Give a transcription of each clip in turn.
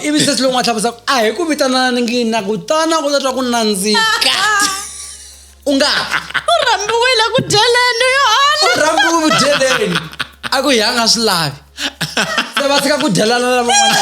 ivi se swi lon'wa tlhavusa a hi ku vitanana ni ngini na kutana ku ta twa ku nandzika u nga u rhambiwile ku dyeleni yohana u rhambiwe ku dyeleni a ku hi a nga swi lavi se va tshika ku dyelana na van'wanyana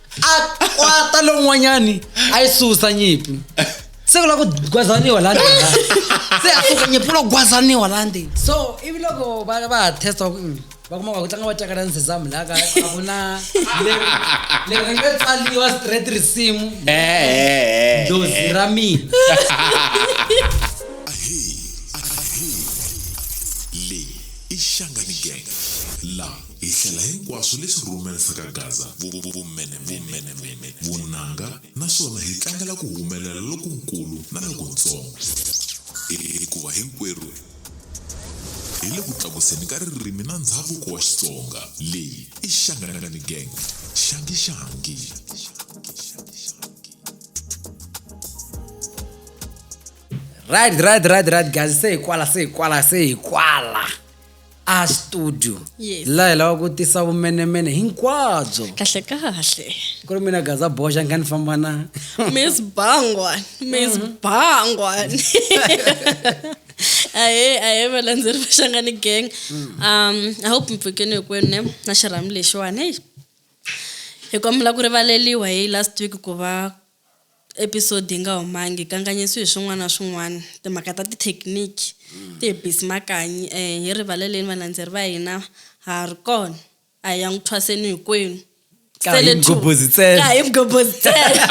a kwata lowun'wanyani a yi susa nyimpi se ku la ku gwazaniwa la ndzeni se a suka nyimpi ku la ku gwazaniwa la ndzeni so ivi loko va va ha testa ku mm, va kuma ku tlanga va cakala ni sesamu la ka a ku na leri leri ri nga tsaliwa straight risimu Eh, eh, eh. dozi ra mina le i xangani gang la Hi hlela hinkwaswo leswi rhumelsa ka Gaza vumenemene, vunanga naswona hi tlangela ku humelela lokunkulu na lokuntsongo, hikuva hinkwerhu hi le ku tlakuseni ka ririmi na ndzhavuko wa Xitsonga. Leyi i Xanganangani Gang, Xangishangi. Right right right right guys se hi kwala se hi kwala se hi kwala. a studio Yes. laha hi lava ku tisa vumenemene hinkwabyo kahle kahle ku ri mina gaza boxa nga ni famba na miss bangwan miss bangwan ahe ahe valandzeri va xangani gang um i hope mi pfukeni hinkwenu ne na xirhami lexiwani heyi hi kombela ku rivaleliwa hi last week ku va episode yi nga humangi hi kanganyisiwe hi swin'wana na swin'wana timhaka ta tithekiniki ti hi bisi makanyi um hi rivaleleni valandzeri va hina ha ha ri kona a hi ya n'wi thwaseni hinkwenu Ka hi Sele two. mghobozi ntsena. Ka hi mghobozi ntsena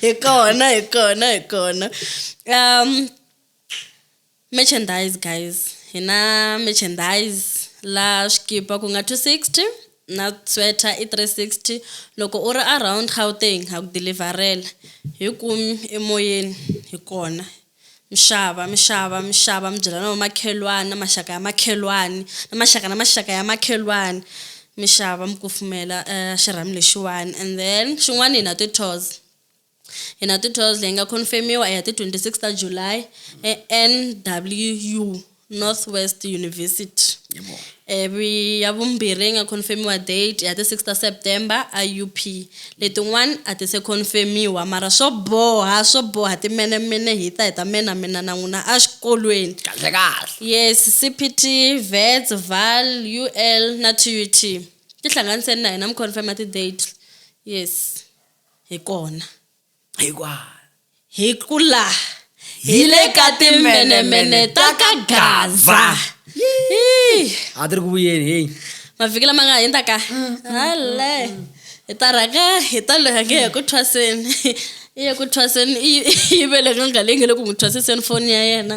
hi kona hi kona hi kona um Merchandise guys, hi na merchandise la swikipa ku nga 260 na sweater i 360 loko u ri around Gauteng ha ku deliverela hi kumi emoyeni hi kona mixava mixava mixava mi byela na vamakhelwani na maxaka ya makhelwani na maxaka na maxaka ya makhelwani mixava mi kufumela uh, xirhami lexiwani and then xin'wana hi na ti-tours Hi 1912 leyi nga khonfemiwa hi ti 26 ta July eNWU, Northwest University. Ivi ya vumbirhi leyi nga khonfemiwa date ya ti 6 ta September eUP. Letin'wana a ti se khonfemiwa mara swo boha swo boha timenemene hi ta hi ta menamena na n'wina exikolweni. Kahlekahle. Yes, CPT, Wits, Vaal, UL na TUT. Tihlanganiseni na hina mi khonfema ti-date. Yes. hi kona hi kwala hi ku la hi le ka timbenemene ta ka gaza a ti ri ku vuyeni heyi mavhiki lama nga hundza ka mm, mm, hale mm, hi ta rhanga hi ta loya nge hi ku thwaseni i ye ku thwaseni i yivele nga nga leyi nge le ku n'wi thwasiseni foni ya yena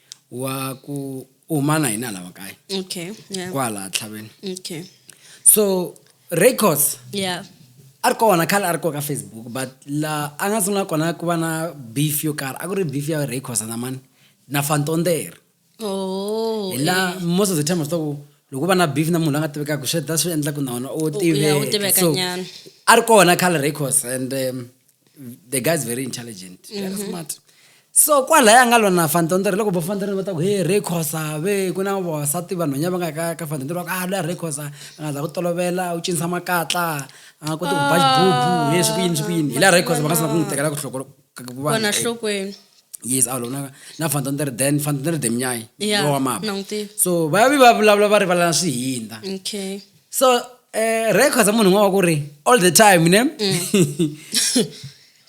wa ku umana hi nala wa kae okay yeah kwala tlhaveni okay so records yeah a ri kona khale a ri koka facebook but la a nga sungula kona ku va na beef yo karhi a ku ri beef ya records na mani na fantondere oh hi la eh. most of the time swa ku loko va na beef na munhu la nga tivekaka swi ta swi endla ku na wona u tiveka so a ri kona khale records and um, the guy is very intelligent mm -hmm. very mm-hmm. smart so kwalaya nga lona fantonto ri loko vo fantonto va ta ku he re khosa ve ku na vavasati vanhwanya va nga ka ka fantonto va ku a ah, loya re khosa a nga za ku tolovela u cinisa makatla a nga koti ku ba xibubu ah, he swi ku yini swi ku yini hi laha re khosa va nga sina ku n'wi tekela ku hloko vona hlokweni yes a lona na fantonto ri then fantonto ri demnyai wa mama so va vi va vulavula va rivalana swihinda okay so eh, records munhu un'wana wa ku ri all the time ne mm.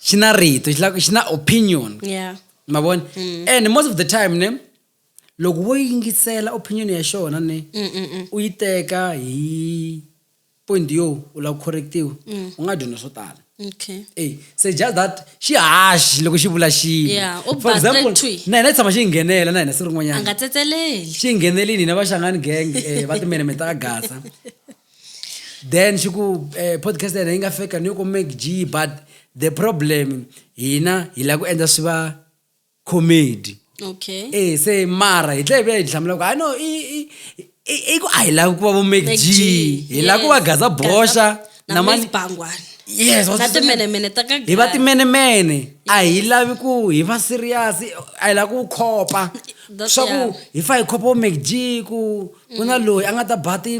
xi na rito xi na opinion yeah. ma vona mm. and most of the time ne loko wo yingisela opinion ya xona ne mm, mm, mm. u yi teka hi point yo u lava ku correctiwa mm. u nga dyondza swo tala okay Ey, se just that xi haxi loko xi vula xilo Yeah, u for ba example three. na hina hi tshama xi hi nghenela na hina siku a rin'wanyana nga tsetseleli xi hi nghenelini hina vaxangani gang eh, va timenemene ta ka gasa then xi ku eh, podcast ya hina yi nga feka ni yo ku mac g but the problem hina hi lava ku endla swi va comedy okay eh se mara hi tlhela hi ya hi hlamula ku hayi no i i- i- i ku a hi lavi ku va vo Mac Mac G. G hi lava ku va Yes. gaza bosha Gaza- na na mani- Mace Bangwane. yes Na timenemene ta ka hi va Gaza. timenemene a hi lavi ku hi va serious a hi lavi ku khopa That's swa ku yeah. hi fa hi khopa vo Mac G ku ku na loyi a nga ta ba ti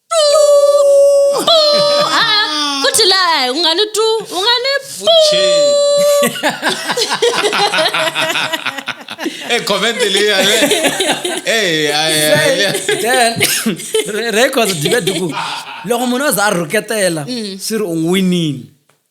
Ah, futhi la eh, ungani tu ungani Eh, comment leyi ale. Eh, ay, ay, ay. then re- records dibe duku loko munhu a za a rhuketela swi ri u n'winile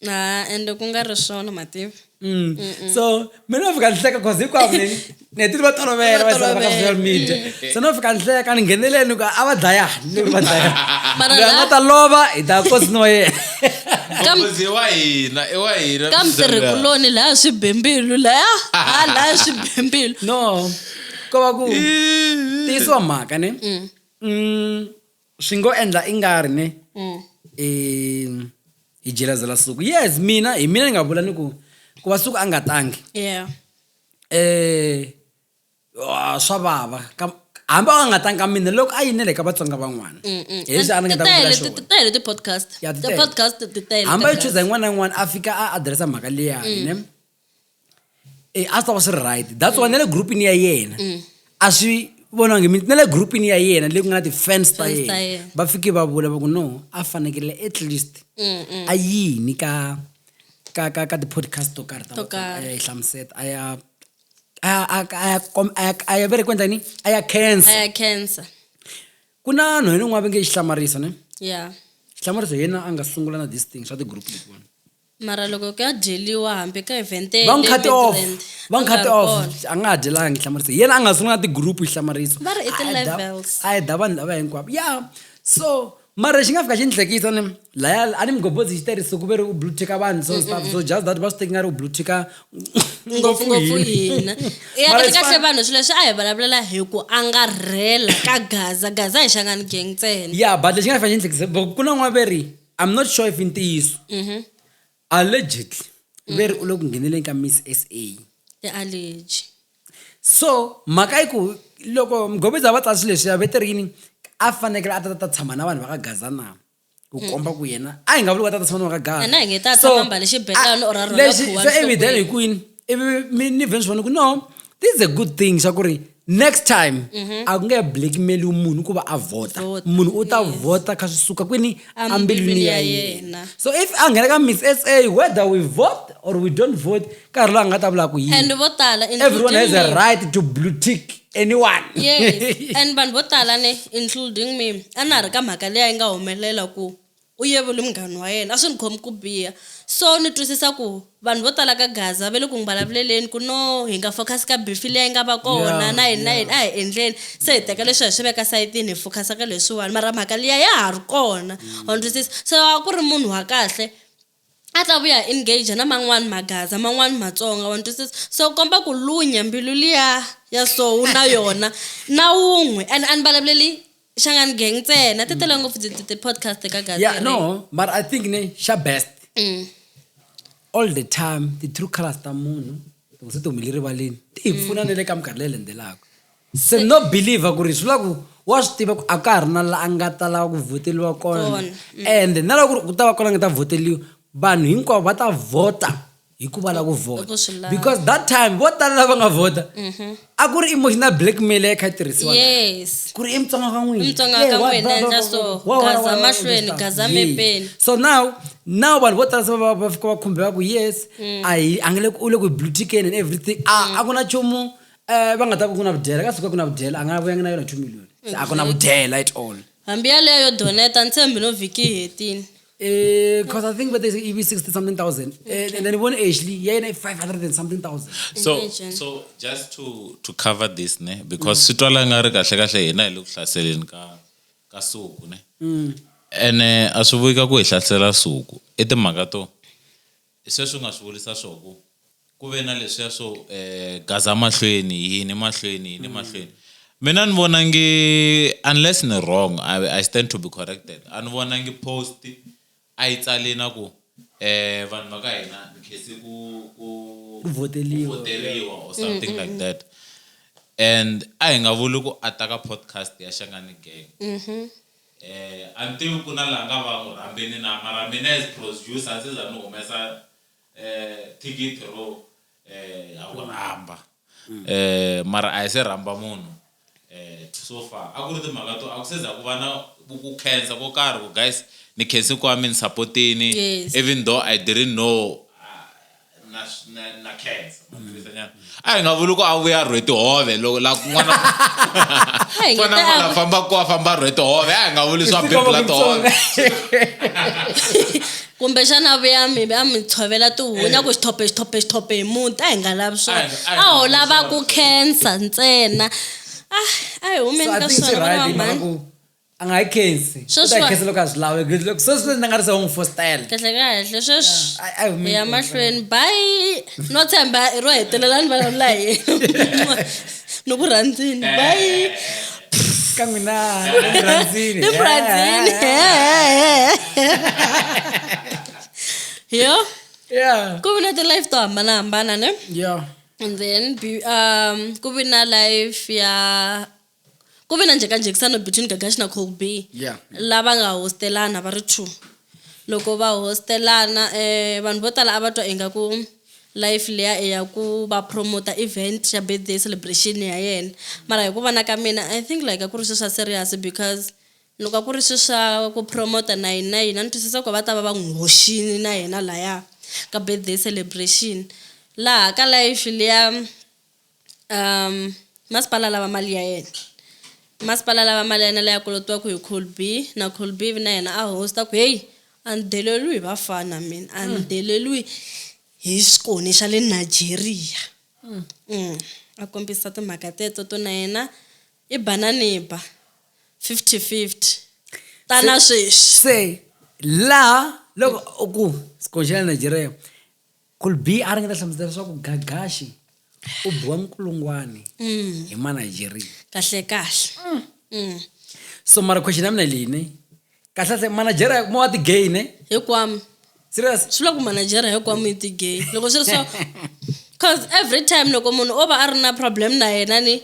Ah, and ku nga ri swona mativa Mm. so mi no fika ni hleka cause hinkwavo ni ni hetile va tolovela va zala va ka social media so no fika ni hleka ni ngheneleni ni ku a va dlayani ni ku va dlayani Mara loyi a la- nga ta lova hi ta kosi no yena Kam- Mbuzi wa hina i wa hina ka mitirhikuloni laya swibembilu laya ha laya swibembilu no ko va ku tiyisiwa mhaka ne Mm, swi ngo endla i nga ri ne mm. um hi jelazela suku yes mina hi mina ni nga vula ni ku ku va suku a nga tangi yeah. eh, ah, swa vava hambi a nga tanga mina loko a yinele ka vatsonga van'wana mm, mm. hileswiaangataele ti-podcast ti-podcast hambi a yi chuza yin'wana na yin'wana a fika a adiresa mhaka liyani mm. e a swi ta va swi ri right that's why na le groupini ya yena mm. a swi vonangi mi na le groupini ya yena leyi ku nga na ti-fans ta yena va fike va vula va ku no a fanekele at least mm, mm. a yini ka ka ka ka ti-podcast to karhi taaya yi hlamuseta a ya a ya vere ku endla ni a ya cancer ku na no yena un'wana va nge yi hlamarisa ne ya hlamarisa hi yena a nga sungula na this thing swa ti-group letiwani Mara loko ku ya dyeliwa hambi ka evhente va n'wi cut off va n'wi cut off a nga ha dyelanga hi hlamarisa yena a nga sungula na ti-group hi hlamariso va ri i ti-levels a heta vanhu lava hinkwavo ya so mara lexi nga fika xi ni hlekisa ni laya a ni mugobodzi xi tirhise ku ve ri u blue ticka vanhu so stuff so just that va swi teki nga ri u blue ticka ngopfungopfu hina ya kahle kahle vanhu swilo leswi a hi vulavulela hi ku angarhela ka gaza gaza hi xangani gang ntsena ya but lexi nga fika xi ni hlekisa ku na n'waveri i'm not sure if i ntiyiso Mhm. allegedly ve ri u le ku ngheneleni ka miss sa i allergy so mhaka yi ku loko mghomiza va tsasi leswi ya veterini a fanekele a ta ta tshama na vanhu va ka gaza na ku komba ku yena a hi nga vuli ku a ta ta tshama na vanhu va ka gaza Yena a hi nge ta tshama mbale xibelani or a rhwala khuwa swi evident hi nhlokweni. kwini ivi ni vhe ni swi vona ku no this is a good thing swa ku ri next time mhm. a ku nge blackmailiwi munhu ku va a vhota munhu u ta vhota kha swi suka kwini ambilwini ya yena so if a nghena ka miss s a whether we vote or we don't vote nkarhi loyi a nga ta vulaka ku yineveryone has a right to blue tick anyone yes and vanhu vo tala ne including me a na ha ri ka mhaka leyi a yi nga humelela ku U yevule munghana wa yena, A swi ni khomi ku biha. So ni twisisa ku vanhu vo tala ka Gaza va le ku n'wi vulavuleleni ku no hi nga focus ka beef liya yi nga va kona na yini na yini a hi endleni se hi teka leswiya hi swi veka sayitini hi focus ka leswiwani mara mhaka liya ya ha ri kona wa ni twisisa. So a ku ri munhu wa kahle. a ta vuya a engage na man'wani magaza man'wani matsonga wa ni twisisa so ku komba ku lunya mbilu liya ya so wu na yona na wun'we and a ni vulavuleli xangani gang ntsena ti tele ngopfu ti- ti- ti-podcast ka gaza yeah no mara i think ne xa best Mm. all the time ti-true colors ta munhu loko se ti humele rivaleni ti hi pfuna na le ka minkarhi leyi landzelaka Se no believer ku ri swi vula ku wa swi tiva ku a ka ha ri na la a nga ta lava ku vhoteliwa kona Kona, mm. and na loko ku ri ku ta va kona a nga ta vhoteliwa vanhu hinkwavo va ta vhota hi ku va la ku vhota Ku swi lava. Mm-hmm. because that time vo tala lava nga vhota a ku ri emotional blackmail leyi kha yi tirhisiwa yes ku ri i mutsonga ka n'wina Mutsonga ka Yeah, wa- n'wina, wa- endla wa- so. wa- wa- wa- Gaza wa- wa- mahlweni, wa- gaza Yeah. mepeni. so now now vanhu vo tala se va va fika va khumbeka ku yes Mm. a hi a nge le ku- u le ku blue tickeni and everything a a ku na nchumu Eh, va nga ta ku ku na vudyela ka suka ku na vudyela a nga vuyangi na yona two million se a ku na vudyela at all hambi yaleyo yo doneta ntshembi no vhiki yi hetile Eh, cause I think whether it be 60 something thousand. Eh, and then one actually, yeah, like 500 and something thousand. so Imagine. so just to to cover this ne because swi twala nga ri kahle kahle hina hi le ku hlaseleni ka ka suku ne ene a swi vuyi ka ku hi hlasela suku i timhaka to I sweswo u nga swi vurisa swo ku ku ve na leswiya swo um gaza mahlweni yini mahlweni yini mm. mahlweni mina ni vona ngi unless ni wrong I, i stand to be corrected a ni vona ngi post a yi tsale na ku eh vanhu va ka hina ni khese ku ku voteriwa or mm, something mm, like mm. that and a hi nga vuli ku a ta ka podcast ya xangani gang mm-hmm. Eh a ni tivi ku na la nga va n'wi rhambini na mara mina as prosducer a ndzi za ni humesa eh thikithi ro eh ha ku rhamba eh mara a hi se rhamba munhu eh so far a ku ri timhaka to a ku se za ku va na ku ku khensa ko karhi ku guys ni khensi kwami ni sapotini even though I didn't know na na na cancer maphilisi anyana a hi nga vuli ku a vuya rhwe tihove loko la kun'wana fana n'wana famba ku a famba rhwe tihove a hi nga vuli swa bebula tihove kumbe xana a vuya mi a mi tshovela tihunya ku xithope xithope xithope hi muti a hi nga lavi swona a ho lava ku cancer ntsena a a hi humeni ka swona vana va mhani a nga yi khensi u ta Sweswi yi wa- khensa loko a swi lavi Good luck. sweswi leswi ni nga ri se u n'wi fostela kahle kahle sweswi Yeah, I- I will make ya it. mahlweni bayi no tshemba i ro hetelela ni vulavula hi yena. ni ku rhandzini bayi ka n'wina emurhandzini ni ku rhandzini yo yeah ku vi na ti-life to hambanahambana ne yeah and then be- um ku vi na life ya Ku ve na njhekanjhekisano between Gagashi na Colby Yeah. lava nga hostelana va ri two. Loko va hostelana eh vanhu vo tala a va twa ingaku life liya i ya ku va promoter event ya birthday celebration ya yena mara hi ku vona ka mina I think like a ku ri swi swa serious because loko a ku ri swi swa ku promoter na yini na yini a ni twisisa ku a va ta va va n'wi hoxini na yena laya ka birthday celebration laha ka life liya. Masipala lava mali ya yena masipala lava mali ya yena leyi a kolotiwaku hi colby na colby ivi na yena a hosi ta ku heyi a ni deleriwi hi vafana mina a ni deleriwi hi xikoni xa le Nigeria a kombisa timhaka teto to na yena i ba na ni ba fifty fifty ta na sweswi se laha loko u ku xikoni xa le Nigeria Colby a ringeta hlamusela leswaku Gagashi u biwa nkulungwani mm. hi Manigeria. Kahle kahle. Mm. Mm. So mara question ya mina leyi ne kahle kahle Manigeria mo wa ti gay ne? Hikwami. Serious? Swi loko Manigeria hikwami yi ti gay. Loko swi ri so cause every time loko munhu o va a ri na problem na yena ni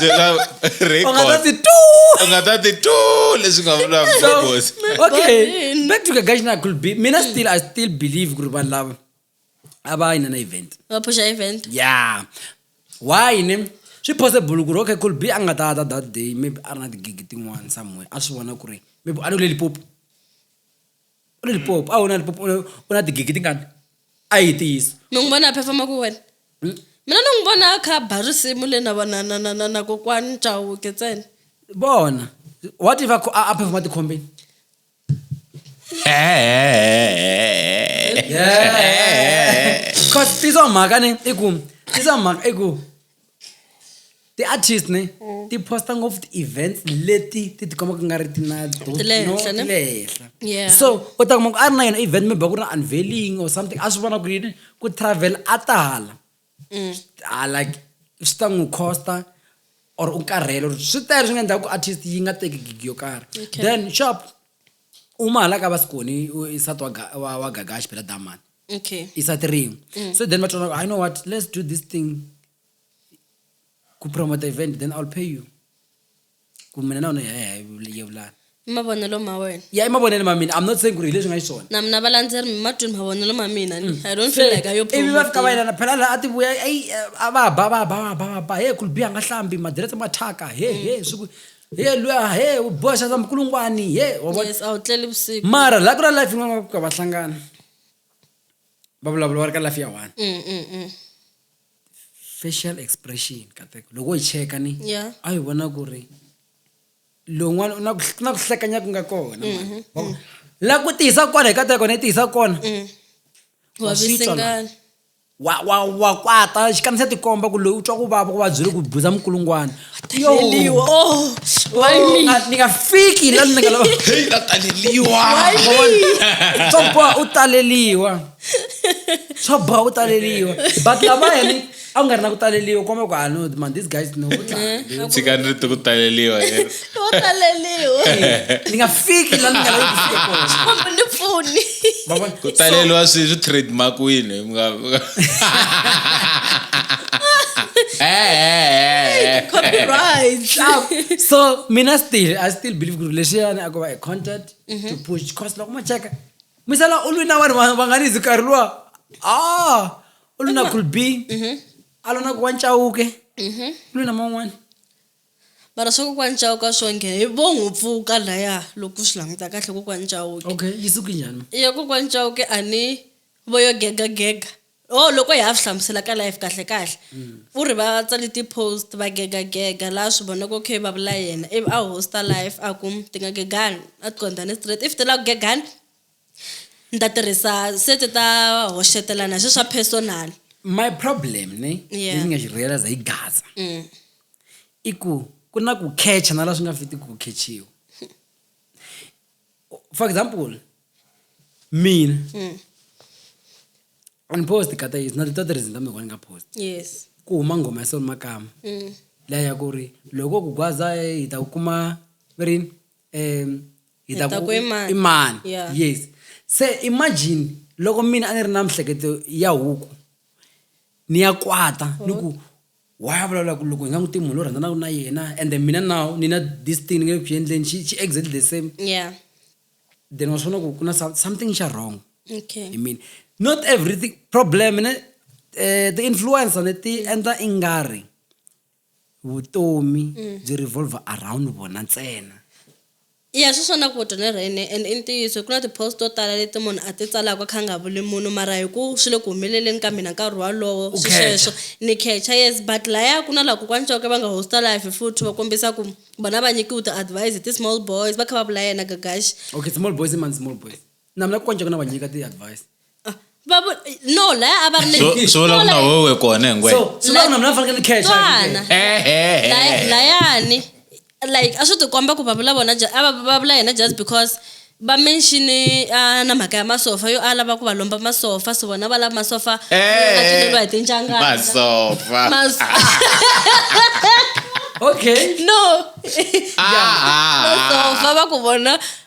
byela u nga ta ti tu u nga ta ti tu leswi nga vula mgobosi okay back to kagashi na could be mina still i still believe ku ri vanhu lava a va yina na event va pusha event yeah why ne swi possible ku ri okay could be a nga ta ta that day maybe a ri na tigigi tin'wana somewhere a swi vona ku ri maybe a ni ku le lipopo u na lipopo a wu na lipopo u na- u na tigigi tingani a yi tiyisa mi n'wi vona a phefha maku wena mina ni n'wi vona a kha a ba risimu le na na na na na na kokwani chauke ntsena vona wa tiva ku a a phefha matikhombeni cause tizo mhaka ni i ku tizo mhaka i ku ti-artist ne mm. ti posta ngopfu ti-events leti ti tikomaka nga ri ti na tilehenhla so u ta kuma ku a ri na yona event maybe ku ri na unveiling or something a swi vona ku yini ku travel a tala mm. ah, like swi ta n'wi costa or u karhele or swi tele swi nga endlaka ku artist yi nga teki gigi yo karhi then shop uma hala ka va sikoni sati wa gagaxi phela damani okay isa three mm. so then vatoona i know what let's do this thing kupromote event then i'll pay you kumina naona yevulana mavonelo ma wena ya i mavonelo ma mina i'm not saying ku ri hi leswi nga xiswona na mina valandzeri mimatwini mavonelo ma mina mm. i don't feel like ayo ivi va fika va yelana phela laha a ti vuya a va ba va ba va ba va ba he khulbi a nga hlambi madirete ma thyaka he he mm. swi ku he luya he u boha xaza mukulungwani he wa vona yes a wu tleli vusiku mara la ku na life yin'wana va ku ka va hlangana va vulavula va ri ka life ya one Mm, mm, mm. facial expression kateko loko wo yi cheka ni Yeah. a yi vona ku ri lowun'wana u na ku ku na ku hlekanya ku nga kona mani. Wa ku- la ku tiyisa kona hi kateko ni tiyisa kona Mm. Wa swi twa la. Wavisengani. wa wa wa kwata xikamisa tikomba ku loyi u twa ku vava ku va byi ri ku buza mukulungwana Heleliwa. Oh, why me? ni nga fiki la ni nga lava heyi la taleliwa Why me? swa boha u taleliwa swa boha u taleliwa but lava hene a ku nga ri na ku taleliwa komba ku ah no man these guys no tshikani ri ti ku taleliwa Lo taleliwa. ni nga fiki la ni nga lavi ku fika kona Kumbe ni pfuni. Ma vona? ku taleliwa swi swi trademarkiwile mi nga mi nga- Eh, eh, eh, eh. Copyright. So- so mina still i still believe ku ri lexiyani a ko va a content to push cause loko mo cheka misala u lwina vanhu va- va nga ni zikarhi luwa ah u lwina kulbi a lona ku wa ncawuke u lwina man'wana Mara swa kokwani Chauke a swo nghena hi vo n'wi pfuka laya loko swi languta kahle kokwani Chauke okay yi suki njhani yo kokwani Chauke a ni vo yo gega gega oh loko hi ya swi hlamusela ka life kahle kahle u ri va tsale ti-post va gega gega laha swi vonaka okay va vula yena ivi a host-a life a ku ti nga gegani a ti qondane straight if ti la ku gegani. Ni ta tirhisa sete ta hoxetelana swi swa personal. My problem ne Yeah. leswi nga xi realize hi Gaza Mm. i ku ku na ku catch na la swi nga fitiki ku catchiwa. For example mina Mm. ni post ka ta na ta tirhisa ta mekwana ka post Yes. ku huma nghoma ya Sol Makama Mm. leya ya ku ri loko ku gwaza hi ta ku kuma rini um hi ta ku i mani yes se imagine loko mina a ni ri na mihleketo ya huku ni ya kwata ni ku wa ya vulavula ku loko hi nga n'wi tivi munhu lo rhandzanaka na yena and then mina now ni na this thing ni nge ku endleni xi xi exactly the same yeah then wa swi vona ku ku na something xa wrong okay i mean not everything problem ne um ti-influencer ne ti endla i nga ri vutomi byi revolver around vona ntsena ya swi swona ku dyondzo ra yini and i ntiyiso ku na ti-post to tala leti munhu a ti tsalaka kha nga vuli munhu mara hi ku swi le ku humeleleni ka mina nkarhi walowo U swi khecha. sweswo ni khecha yes but laya ku na laha kokwani coke va nga hosta life futhi va kombisa ku vona va nyikiwe ti-advise hi ti-small boys va kha va vula yena gagaxi okay small boys i mani small boys na mina ku konjeka na va nyika ti advice Ah, va vu- no laya a va ri So- le- swi vula ku na Swala- wewe kona hingwe so swi vula ku na mina ni fanekele ni cash Tswana. Laya- layani like a swi tikomba ku va vula vona ju- a va va vula yena just because va menxini ah, na mhaka ya masofa yo a lava ku va lomba masofa so vona va lava masofa Eh. aceleriwa hi tinjangana masofa Mas- okay no Ah, ah, ah. masofa va ku vona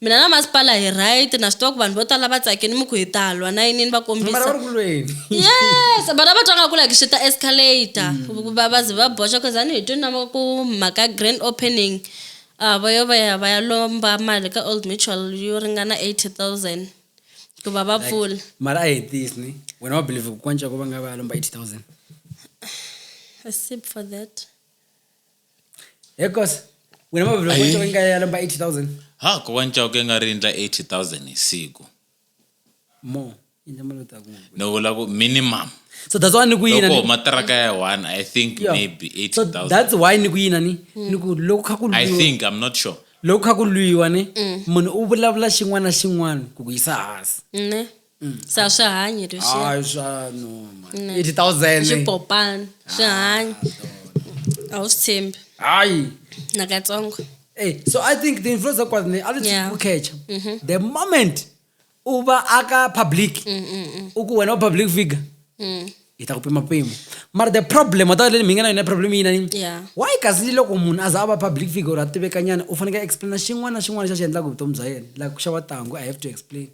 Mina na masipala hi right na swi tiva ku vanhu vo tala va tsakini mi ku hi ta lwa na yinini va kombisa mara va ri ku lweni yes vana va twa nga ku like swi ta escalator mm. va va ze va boxa cause a ni hi twi na ku mhaka grand opening a va yo va ya va ya lomba mali ka old mutual yo ringana eighty thousand ku va va pfula mara a hetisi ni wena wa believe ku kwanca ku va nga va ya lomba eighty thousand a sip for that hekos wena mavhelo Ayi. kwancoko inga ya lomba 80000 ha ko wancauke nga ri endla 80000 hi siku more endla mali ta kungu ni vula ku minimum so that's why ni ku yina loko ni- huma tiraka ya one i think Yeah. maybe so 8000 that's why ni ku yina ni ni ku loko kha ku i lwiwa think i'm not sure loko kha ku lwiwa ni munhu u vulavula xin'wana na xin'wana ku ku yisa hansi ne Mm. se a swi hanyi leswi hayi swa no man Ne. 80000 swipopani swi hanyi a wu swi tshembi hayi nakatsongo Hey, so I think the influencer kwaz ne a Yeah. lithe ukhecha. The moment uba aka public uku wena u public figure. hi ta ku pima mpimo mara the problem wata leyi mi nga na yona problem yi nani Yeah. why kasi ni loko munhu a za a va public figure or a tivekanyana u fanekele a explaina xin'wana na xin'wana xa xi endlaka vutomi bya yena like ku xava tangu i have to explain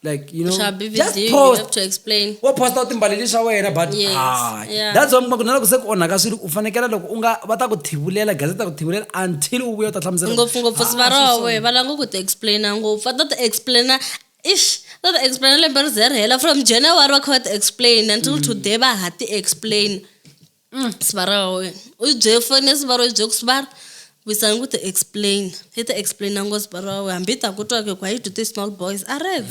like you know Sha BBD, just you post have to explain. wo posta u timbaleli swa wena but Yes, ah, yeah. that's why mi kuma ku na loko se ku onhaka swilo u fanekela loko u nga va ta ku thivulela gazeti ta ku thivulela until u vuya u ta hlamusela ngopfungopfu Ah, swi va sweswo. roho va langa ku ti explaina ngopfu va ta ti explaina Ish, va va explain lembe ri ze ri hela from January va kha va ti explain until today va ha ti explain. Sibara wa wena u yi byele foni ya Sibara u yi byele ku Sibara wisani ku ti explain yi ti explain ngo Sibara wa wena hambi yi ta ku twa ku why you do this small boys a rex.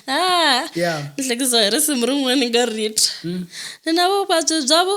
Ah, Yeah. ni hlekisa hi risimu rin'wana ni nga ri twa. Ni na vuvabyi bya vu.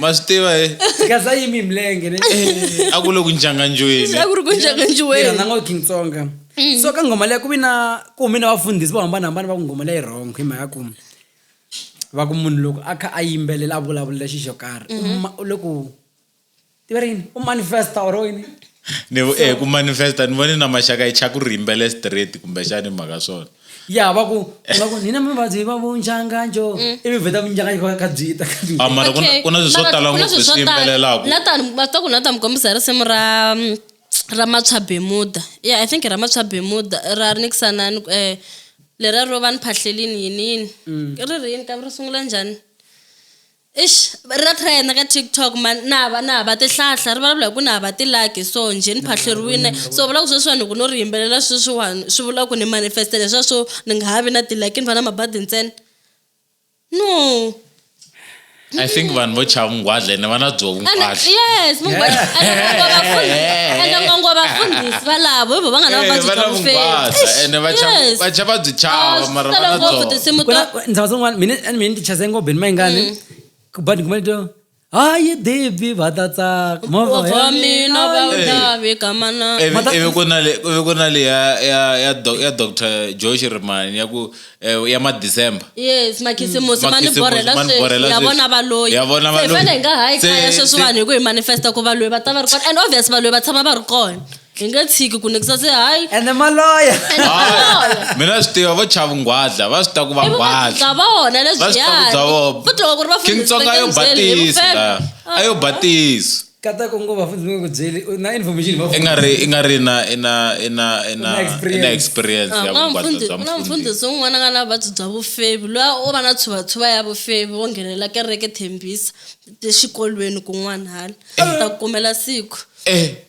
ma swi tiva he kaza yimi milenge ne Eh, a ku le ku njanganjweni a ku ri ku njanganjiweni yena ngo king tsonga Mm. so ka nghoma leyi ku vi na ku humi na vafundhisi vo hambanahambana va ku nghoma leyi wrong hi mhaka ku va ku munhu loko a kha a yimbelela a vulavulela xi xo karhi u Mm-hmm. ma- u le ku tiva rini u manifesta or yini ni eh, ku manifesta ni vone na maxaka yi chaka ku ri yimbele straight kumbexani hi mhaka swona ya va ku va ku ni na mavabyi va vo njanganjo ivi vheta vunjanganjo ka ka byi ta ka byi Ah, mara ku na- Okay. ku na swilo swo Mara tala ku na ngopfu swilo swo swi tala. yimbelelaka. Nathan, va ta ku nathan kombisa risimu ra mm, ra matshwa bemuda yeah i think ra matshwa bemuda ra ri nikisana ni ku- eh lera ro va ni phahlelini yinini ri ri yini kambe ri sungula njhani Eish ri nga try na ka TikTok man na hava na hava tihlahla ri vulavula hi ku na hava ti-like so njhe ni phahleriwile so vula ku sweswiwani hi ku no ri yimbelela sweswiwani swi vula ku ni manifest-e leswiya swo ni nga ha vi na ti-like ni va na mabadi ntsena no i think vanhu vo chava nghwadla ene va na byo And- vunghwadla yes mungwadla and ngangwa vafundhisi and ngangwa vafundhisi valavo hi vo va nga na Eh, vuvabyi va bya na vunghwaza vufesi ene va chava- Yes. va chava byi chava Ah, mara swi va tala na ngopfu byona tinsimu Ku na- ta ndzawa tin'wana mina and mina ti chaze ngobhe ni mayingani mm. but ngumane to hayi dibi va ta tsaka movamina va ndavi kamanaivi ku na le ya doctor josh rimani ya ku eh, ya madecember yes makhisimusi mm. ma ni borhela sweswi ya vona va loyi hi fane hi nga hayi khaya sweswiwani hi ku hi manifesta ku va loyi va ta va ri kona and obvious va loyi va tshama va ri kona hi nge tshiki ku nekisa se hayi ende maloya mina swi tiva vo chavu nghwadla va swi ta ku va nghwadla vona leswiyavutloko ri vakintsonga yo batisi la a yo batisi kata ku ngo vafunzi va ku byeli na information va i nga ri i nga ri na i na i na i na i na experience ya vungwadla bya mfundhisi un'wana nga na vuvabyi bya vufevi loyi o va na tshuvatshuva ya vufevi wo nghenelela kereke thembisa exikolweni kun'wana hala ta kumela siku eh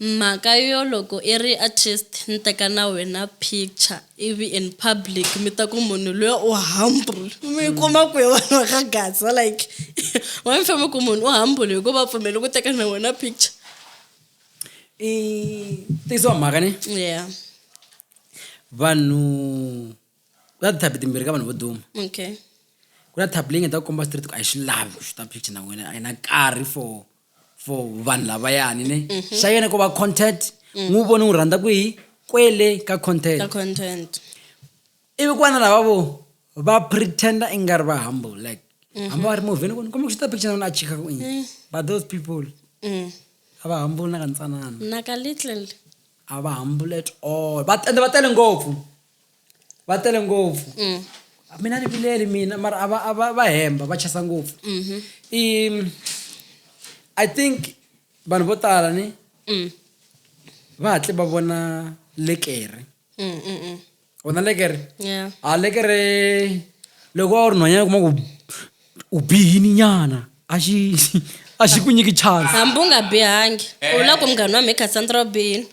Mhaka yo loko i ri artist ni teka na wena picture ivi in public mi ta ku munhu luya u humble mi yi kuma kwihi vanhu va ka Gaza like why mi famba ku munhu u humble hi ku va pfumeli ku teka na wena picture i tizwa mhaka ne yeah vanhu ku na ti-type timbirhi ka vanhu vo duma okay ku na type leyi nga ta ku komba straight ku a yi swi lavi ku xuta picture na wena a yi na nkarhi for for vanhu lavayani ne Mhm. xa yena ko va content Mm. n'wi vone n'wi rhandza ku yi kwele ka ka content content ivi ku va na lava vo va pretender i nga ri va humble like Mhm. hambi va ri movheni ku ni komba ku xuta picture na wena a chika ku ini Mm. but those people Mm. a va humble na ka ntsanana na ka little a va humble at all va tele va tele ngopfu va tele ngopfu mm. mina ni vileli mina mara a va a va va hemba va chasa ngopfu mm-hmm. i i think vanhu vo tala ni mm. va hatle va vona lekere mm, vona lekere a lekere loko a wu ri nhwanyana kuma ku u bihini nyana a xi a xi ku nyiki chance hambi u nga bihangi u la ku munghana wa mhe cassandra u bihini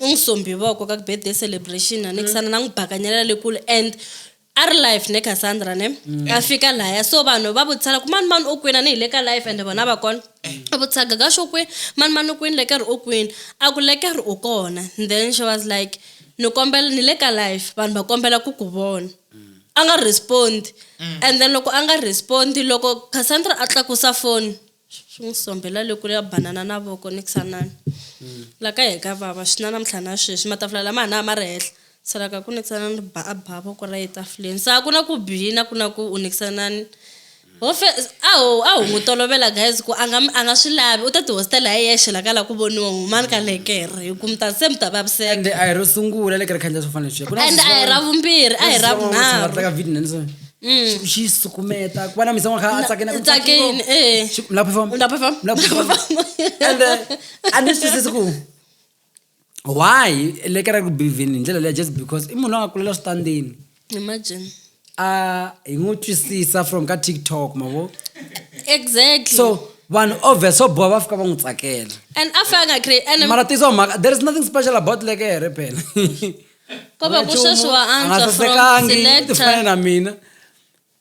u n'wi sombi voko ka ku birthday celebration a nikisana na n'wi bakanyela le kule and a ri life ne cassandra ne a fika laya so vanhu va vutisana ku mani mani u kwini a ni hi le ka life ende vona va kona a vutisaka ka xo kwini mani mani u kwini leke ri u kwini a ku leke ri u kona then she was like ni kombela ni le ka life vanhu va kombela ku ku vona a nga respond mm. and then loko a nga respond loko cassandra a tlakusa foni swi n'wi sombhela le kule ya banana na voko ni kusanani mm. la ka ye ka vava swi na namuntlha na sweswi matafula lama ha na ma ri henhla salaka ku nikisanani ba a ba voko ra ye tafuleni sa ku na ku bina ku na ku u nikisanani ho fe a ho a ho n'wi tolovela guys ku a nga a nga swi lavi u ta tihostela hi yexe la ka la ku voniwa humani ka lekere hi ku mi ta se mi ta vaviseka ende a hi ro sungula lekere khanjia swo fana leswiya and a hi ra vumbirhi a hi ra vunharhu tlaka video nani swona Mm. xi sukumeta ku va na misama kha a tsakena ku tsakeni eh lapho fam lapho fam lapho fam and uh, a ni swisisi ku why le ka ra ku bivhini hi ndlela leya just because i munhu la nga kulela switandini imagine a hi n'wi twisisa from ka tiktok mavo exactly so vanhu obvious so boha va fika va n'wi tsakela and a fa a nga create and mara tiso mhaka there is nothing special about lekere phela ko va ku sweswi wa antswa from selector na mina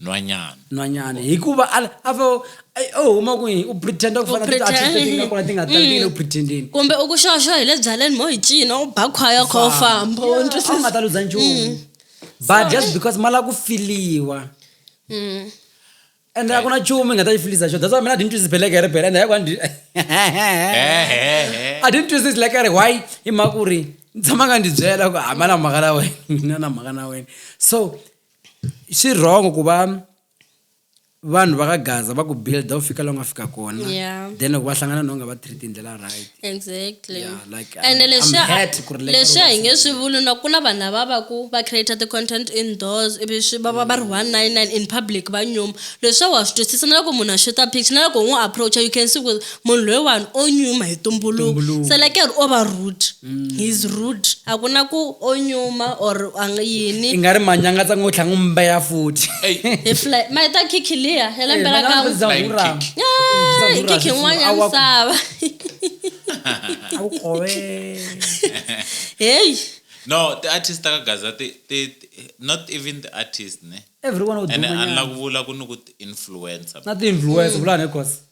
nhwanyana nhwanyana hikuva a a fa u huma kwihi u pretenda ku fana tiatletitingakona ti nga tatile u pretendini mm. kumbe u ku xoxo hi le byaleni mo hi cina u ba khwaya kha u famba u nga ta ludza nchumu mm. but just because ma lava ku filiwa mm. ende a ku na chumu i nga ta yi filisa xo that's why mina a didn't twisi beleke hi ri bele ende yakwani a didn't twisi like a ri why hi mhaka ku ri ni tshama nga ndzi byela ku hambana mhaka na wena na na mhaka na wena so swi wrong ku va vanhu va ka gaza va ku builda u fika la u nga fika kona Yeah. then loko va hlangana na u nga va treat hi ndlela right exactly Yeah, like, I'm- ene I'm leswiya hurt ku ri like leswiya hi nge swi vuli na ku na vanhu lava va ku va creator ti-content indoors ivi swi va va va ri 199 in public va nyuma leswiya wa swi twisisa na loko munhu a xuta picture na loko u n'wi approacha you can see ku munhu loyiwani o nyuma hi tumbuluko selekeri o va rude mm. heis rude a ku na ku o nyuma or ang yini i nga ri manyanga tsa ngo tlhanga mba ya futhi ma yi ta khikhi liya ya lembe ra ka hi khikhi n'wana ya misava heyi no ti artist ta ka gaza ti ti not even the artist ne everyone would and anla ku vula ku ni ku influencer na ti influencer vula ne cause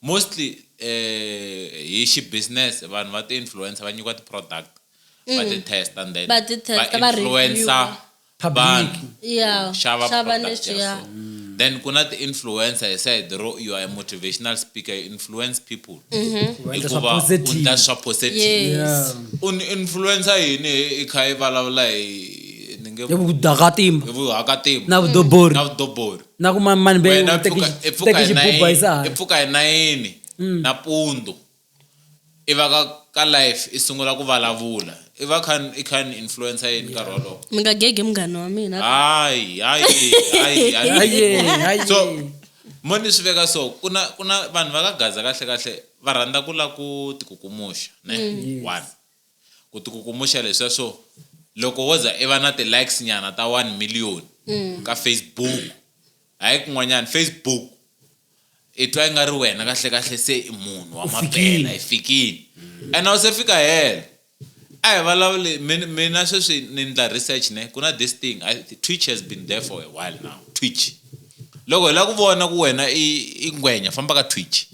Mostly hi xi business vanhu va ti influencer va nyikiwa ti product va ti mm. test and then va ti test va influencer vanhu yeah xava product ya so mm. then kuna ti influencer he said ro you are a motivational speaker you influence people mm-hmm. hikuva u ndla swa positive un influencer yini i kha i vulavula hi ni nge vuhakatimba na vudobori na vudobori na ku mani mani be wena u teki pfuka- i pfuka teki hi xibuba hi nayini- i sahani pfuka hi nayini Mm. napundu i va ka ka life i sungula ku vulavula i va kha i kha ni influencer yini nkarhi wolowo mi nga gege munghana wa mina hayi hayi hayi hayi Haye, haye. so mo ni swi veka so ku na ku na vanhu va ka gaza kahle kahle va rhandza ku la ku tikukumuxa ne one ku tikukumuxa leswiya swo loko wo za i va na ti-likes nyana ta one million mm. ka facebook hayi kun'wanyana facebook i twa i nga ri wena kahle kahle se i munhu wa maphela i fikile and a wu se fika helo a hi vulavuli mina sweswi ni ndla research ne ku na this thing twitch has been there for a while now twitch loko hi lava ku vona ku wena i ngwenya famba ka twitch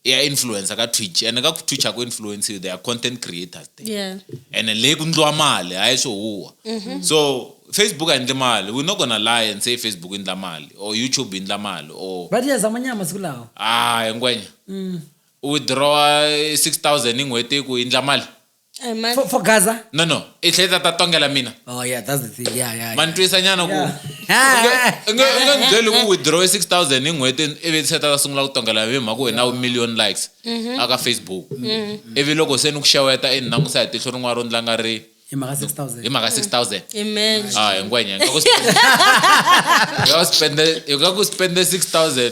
ya influencer ka twitch ene ka twitch aku influence you they are content creators there yeah. ene le ku ndliwa mali hayi swo huwa mm -hmm. so facebook ayindli mali we're not gonna lie and say facebook yindla mali or youtube yindla mali or but yazama nyama siku lawa ah ngwenya mm. u withdrawa 6000 hi n'hweti ku yindla mali Ay, man. for, for gaza no no i tlhe tata tongela mina oh yeah that's the thing yeah yeah, ma ni yeah. twisa nyana ku Yeah. u nge u nge ni byeli ku withdraw 6000 hi n'hweti ivi se ta sungula ku tongela hi mhaka wena u million likes aka facebook ivi loko se ni ku xeweta i ni langusa hi tihlo rin'wana ro ndla nga ri hi mhaka 6000 hi mhaka 6000 Imagine. Ah, ngwenya nga ku spend- nga ku spende nga ku spende 6000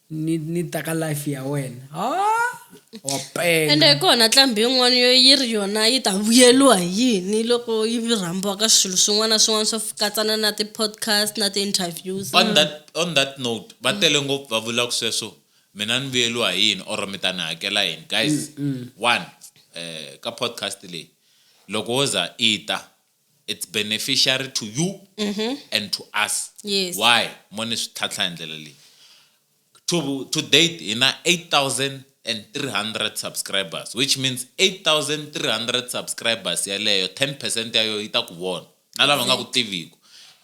ni ni ta ka life ya wena wa pela ende hi kona tlambi yin'wana yo yi ri yona yi ta vuyeliwa hi yini loko yi rhambiwa ka swilo swin'wana na swin'wana swo katsana na ti-podcast na ti-interviews on that on that note va tele ngopfu va vulaka sweswo mina ni vuyeliwa hi yini or mi ta ni hakela yini guys one eh ka podcast leyi loko wo za i ta it's beneficiary to you mm -hmm. and to us yes. why mo ni swi tlhatlha hi ndlela leyi to, to date hi na 8000 and 300 subscribers which means 8300 subscribers yaleyo 10 percent yayo yi ta ku vona na lava nga ku tiviku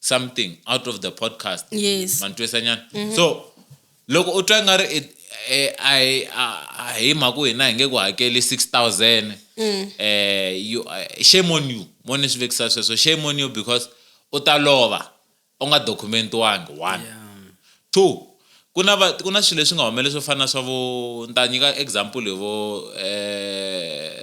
something out of the podcast yes mantwisanyana mm -hmm. so loko u twa nga ri eh, a hi mhaka ku hina hi nge ku hakeli 6000 mm. eh, eh, shame on you mo ni swi vekisa sweswo shame on you because u ta lova u nga dokumentiwangi one yeah. two ku na ku na swilo leswi nga humeleli swo fana na swa vo ni ta nyika example hi vo um eh,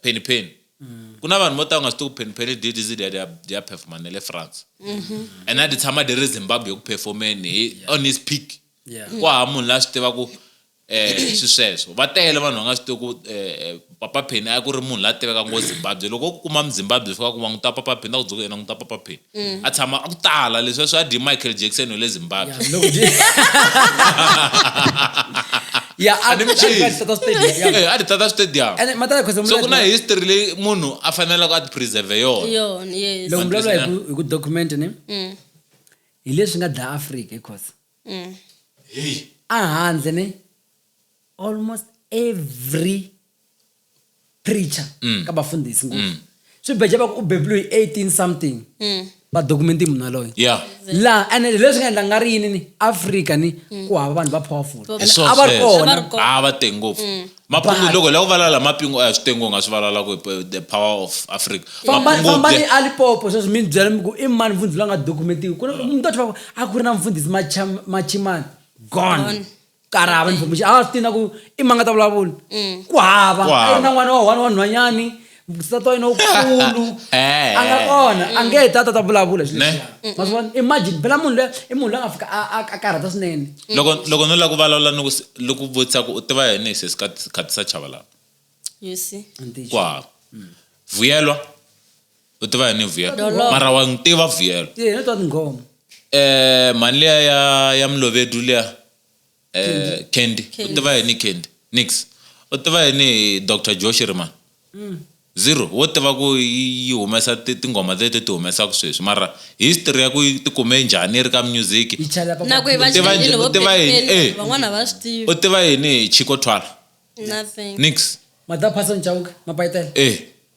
penny penny Mm. ku na vanhu vo ta u nga swi tivi ku phenphele ddz leri ya ri ya performa na le france mm-hmm. and a ti tshama di ri zimbabwe ku performeni hi on his peak ku hava munhu la swi tivaku um eh, swi sweswo va tele vanhu va nga swi tivi ku um eh, eh, papa pheni a ku ri munhu la tiveka ngo zimbabwe loko u ku kuma muzimbabwe fika ku va n'wi ta papa pheni ta ku dzoka yena n'wi ta papa pheni mm. a tshama a ku tala leswi a swi a dyi michael jackson wa le zimbabwe ya a di tata stadium so ku na history leyi munhu a fanelaka a ti preserve yonaloko mi vulavula hi ku document ni mm. hi leswi nga dlaya africa hikosa mm. a handle ni almost every preacher mm. ka vafundhisi ngopfu mm. swi beja va ku u bebuliwe hi 18 something mm. vadokumenti munhu aloyo laha and leswi nga endla nga ri yini ni afrika ni mm. ku hava vanhu va powerful a va ri kona a va tenge ngopfu mm. mapungu loko la ku valala mapingu a hi swi tengo nga swi valala ku the power of africa fambani a lipopo sweswi mi ni byela mi ku i mani mfundhisi la nga dokumentiwi ku ni ta twa a ku ri na mfundhisi machimani gone karava ni bomuxi a swi tina ku i manga ta vulavula mm. ku hava a yi ri na n'wana wa one wa nhwanyani nsati wa yena wukulu eh. a nga kona a nge heta ta ta vulavula swi leswiya ma swi vona imagine phela munhu loyi i munhu loyi a nga fika a karhata swinene mm. loko loko no lava ku vulavula ni ku loko ku vutisa ku u tiva yini hi sesi khatisa chava lava ku hava mm. vuyelwa u tiva yini vuyelo Dolomo. mara wa n'wi tiva vuyelo Ti hina twa tinghoma. eh mhani liya ya ya mlovedu liya eh candy u tiva yini candy nix u tiva yini hi dr joe shiriman zero wo tiva ku yi yi humesa ti- tinghoma leti ti humesaka sweswi mara history ya ku yi ti kume njhani yi ri ka music Yi chela pa na ku yi va Tiva njhe- chayelile vo tiva yini? Pepeni, Eh. van'wana va swi tiva u tiva yini hi chico twala nothing nix Madaphasa ncawuka, mapayitela. eh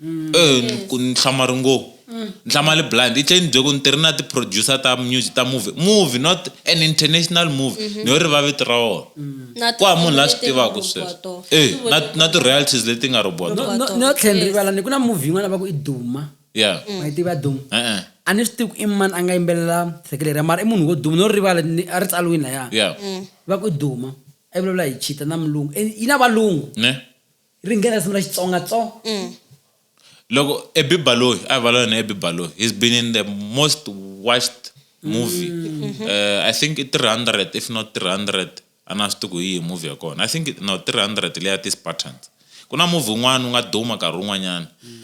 Eh, ni- ku ni hlama ri ngo ni hlama li blind i tlhe ni bye ku ni tirhi na ti-producer ta music ta movie movie not an international movie ni yo ri va vito ra wona Na ku hava munhu la swi tin'wana tivaka leti sweswo hinkwato. Eh, Swi na- vuriwa. na ti-royalties leti nga robiwa No- tona no- no tlhela ni rivala ni ku na movie yin'wana va ku i duma yeah ma yi tiva duma e-e a ni swi tivi ku i mani a nga yimbelela seke leriya mara i munhu wo duma no ri rivala ni- a ri tsaliwini laya yeah va ku i duma a yi vulavula hi chita na mulungu Eh, yi na valungu ne ri nghena risimu ra xitsonga tso loko ebibaloyi a hi valona ebibaloyi he's been in the most watched movie mm. uh, i think i 300 if not 300 a na swi tiku hi movie ya kona i think no 300 leya ti-spartans ku na movie un'wana u nga duma nkarhi wun'wanyana mm.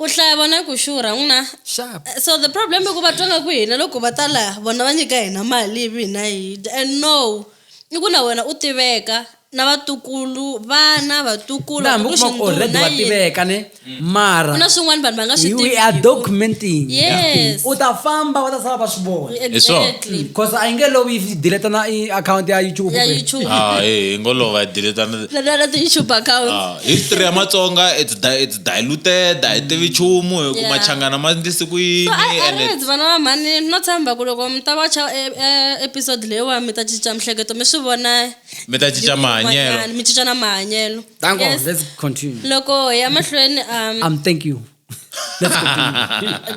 ku hlaya vona ku xurha n'wina so the problem i ku va twa nga ku hina loko va ta laha vona va nyika hina mali ivi hina hi dya and no i ku na wena u tiveka na vatukulu vana vatukulu hambi u kuma already wa tiveka ne mm. mara na swin'wana vanhu va nga swi we are documenting yes u ta famba va ta sala va swi vona exactly because a yi nge lovi yi deleta na account ya YouTube ya YouTube ah eh, eh ngolova yi deleta na na YouTube account ah, history ya Matsonga it's diluted a hi tivi nchumu hi ku Yeah. machangana ma ndlise ku yini So, I, I and read vana va mhani no tshemba ku loko mi ta wacha e- e- episode leyiwa mi ta cinca mihleketo mi swi vona mi ta cinca mahanyelo van'wanyana, mi cinca na mahanyelo Thank God. Yes. Let's continue. loko hi ya mahlweni um, Um, thank you.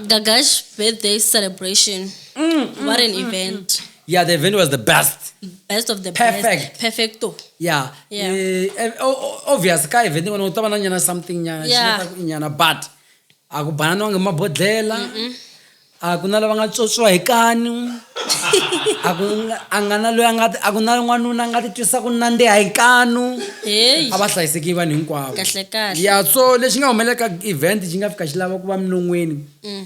gagash birthday celebration what an event Yeah, the event was the best. Best of the Perfect. best. Perfecto. Yeah. Yeah. Eh, eh, o- o- obvious ka event ngwana u ta va na nyana something nyana xi Yeah. nga ta ku nyana but a ku bananiwangi hi mabodhlela a ku na lava nga tswotswiwa hi kanu a ku nga- a nga na loyi a nga ti- a ku na n'wanuna a nga ti twisa ku nandziha hi kanu Hey. a va hlayiseki vanhu hinkwavo Kahle kahle. ya so lexi nga humelelaka event xi nga fika xi lava ku va minon'weni Mm.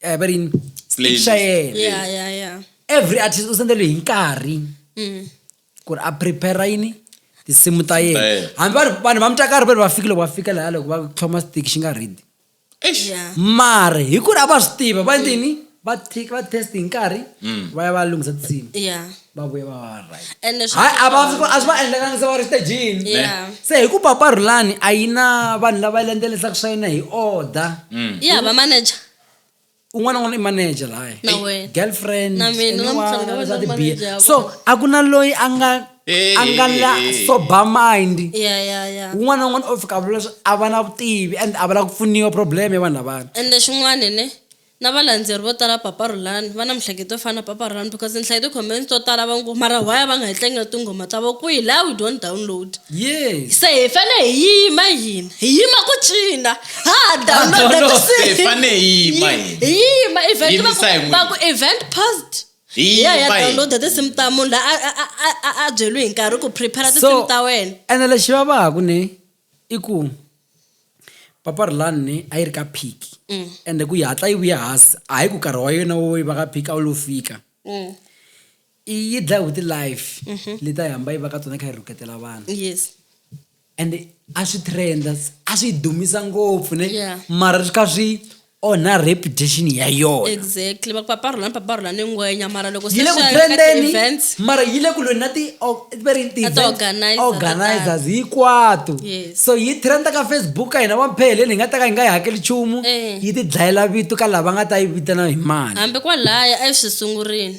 eh, va ri yini? Playlist. Picture yena. Yeah. ya ya ya every artist u sendeliwe hi nkarhi Mm. ku ri a prepare yini tinsimu ta yena yena. hambi vanhu vanhu va mutakari va ri va fikile va fika laha loko va tlhoma stiki xi nga ridi Eish. ya mara hi ku ri a va swi tiva va yini va thi- va test hi nkarhi va ya va lunghisa tinsimu ya va vuye va va va right ene swi hayi a va a swi va endlekanga se va ri stagini Yeah. se hi ku paparhulani a yi na vanhu lava yi landzelisaka swa yona hi order ya va manager un'wana n'wana i manager lahaya Na wena. girlfriend Na mina, anyone, namuntlha ni nga va swa ni ri tibiya. manager ya so a ku na loyi a nga Eh, a nga la eh, eh. sober mind ya ya ya un'wana na un'wana o fika a vula leswi a va na vutivi and a va lava ku pfuniwa problem ya vanhu lavana ende xin'wana ne Na valandzeri vo tala va Papa Rhulani va na mihleketo yo fana na Papa Rhulani because ni hlaye ti comments to tala va ngo mara why a va nga hi tlangeli tinghoma ta vo kwihi laha we don't download Yes. se hi fane hi yima hina hi yima ku cina ha ha download download, tinsimu. hi fane hi yima Hi- hina. hi yima event va Yimisa hi ku- n'wina. va ku event post Hi hi ya ya yima hina. download tinsimu ta munhu la a- a- a- a- a byeliwe hi nkarhi ku prepare tinsimu ta wena ene lexi vavaka ne i ku papa rilani a yi ri ka phiki mm. ende ku yi hatla yi vuya hasi a hi ku karhi wa yona wo yi va ka phiki a wu lo fika mm. i yi dlaye hi ti-life mm-hmm. leti a yi hamba yi va ka tona kha yi rhuketela vanhu ende a swi trenda a swi dumisa ngopfu ne mara swi kha swi onha reputation ya yona exactly va ku paparhula ni paparhula ni ngwenya mara loko yi le ku trendeni events mara yi le ku lweni na ti o- va ri ti Na events, ti-organiser to organizers hinkwato Yes. so yi trenda ka facebook ka hina vampheleni hi nga ta ka hi nga yi hakeli nchumu Eh. yi ti dlayela vito ka lava nga ta yi vitana hi mali hambi kwalaya a yi swi sungurini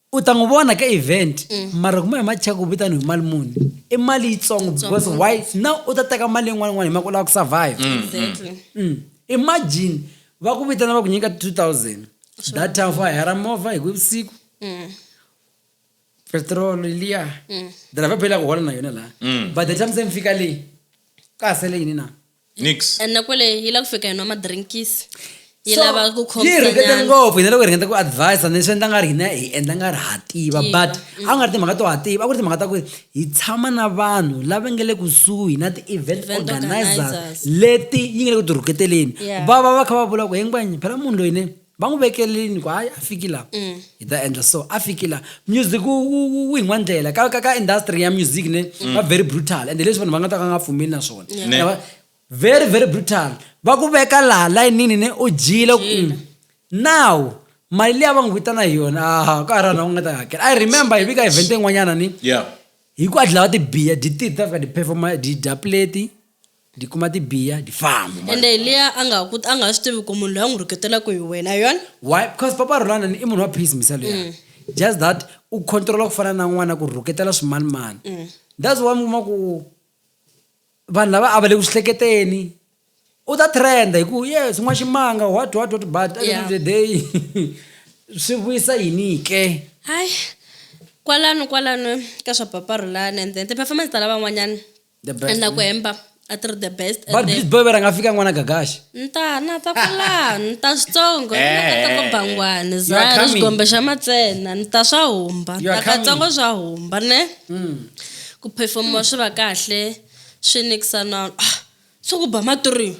u ta n'wi vona ka event mm. mara kuma hi macheka ku vitani hi mali muni i mali yitsongo because why now u ta teka mali yin'wana yin'wana hi mhaka u lava ku survive mm, mm. mm. imagine va ku vitana va ku nyika two thousand that time for hera movha hi ku vusiku petrol liya driver phela ku hola na yona laha but the time se mi fika leyi ka ha sele yini na nix and na kwele yi lava ku fika yi nwa madrinkisi yi So, lava ku yi hi ringete khomsanyana ngopfu hina loko hi ringeta ku advise ni swi endla nga ri hina hi endla nga ri ha tiva Tiva, but a ku nga ri timhaka to ha tiva a ku ri timhaka ta ku hi tshama na vanhu lava nge le kusuhi na ti-event Event organizers organizers. leti yi nge le ku ti rhuketeleni Yeah. va va va kha va vula ku hinkwanye phela munhu loyi ne va n'wi vekelini ku hayi a fiki laha mm. hi ta endla so a fiki laha music wu hi n'wandlela ka ka ka industry ya music ne mm. va very brutal ende leswi vanhu va nga ta ka nga pfumeli na swona very very brutal va ku veka laha layinini ne u dyile mm. now mali leyi a va n'wi vitana hi yona aha ka ha ri vanhu va nga ta hakela i remember hi vika event yin'wanyana ni hi ku a dlawa tibiya dititi ta fika tiphefoma didya pleti Di kuma di biya di famba. Ende hi liya a nga ku a nga swi tivi ku munhu loyi a n'wi rhuketelaku hi wena hi yona. Why because papa Rhulana ni i munhu wa peace mhisa luya just that u controla ku fana na n'wana ku rhuketela swimanimani that's why mi kuma ku vanhu lava a va le ku swi hleketeni u ta trend hi ku yes n'wa ximanga what what what but at the end Yeah. of the day swi vuyisa yini ke Hayi kwalano kwalano ka swa papa Rhulana and then ti-performance ta lavan'wanyani. The best, and na ku hemba a ti ri the best and but then- please boy va rhanga fika n'wana gagaxa ni ta na ta kwala ni ta switsongo ni nga ta ko bangwani za are ri coming. xikombe xa matsena ni ta swa humba ni You are ta katsongo swa humba ne ku performiwa swi va kahle swi nikisa na ah, swi ku ba maturiwa